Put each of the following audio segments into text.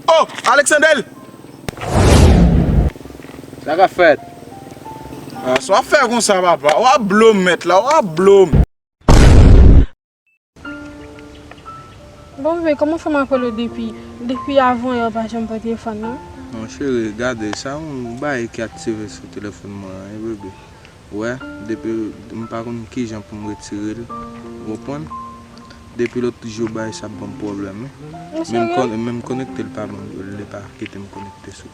Oh Alexander! Sa ka fèt? Sa wap fè konsa papa? Wap blom mèt la, wap blom! Bon bebe koman fem apel ou depi depi avan yè ou pa janm pran telefon non. Bon cheri gade sa yon bagay ki aktive sou telefon mwen an bebe ou wè depi m pa konn kijan pou m retirel ou konprann depi lot jou bagay sa ap banm pwoblem wi menm konektel pa banm li pa kitem konekte sou.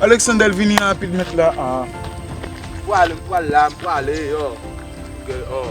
Alexander vini rapid met la aa. M pwale m pwale la m pwale yo ke oo.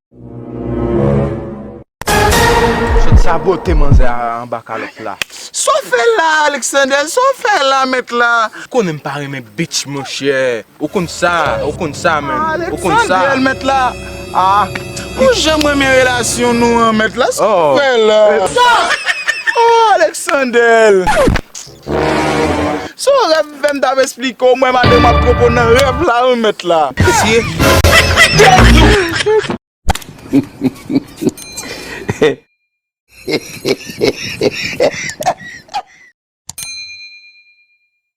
Sot sabote manzè a anba kalòt la. Sa w fè la a Alexander? Sa w fè la mèt la? Ou konnen m pa renmen bitch monchè. Ou konn sa, ou konn sa menn. Ou konn sa. Alexander mèt la. Ah! Ou janm renmen relasyon nou an mèt la? Sa w fè la? Sa! Oh Alexander! Son rèv m fè m tap esplike w mwen madanm ap konpon nan rèv la wi mèt la. Mesye.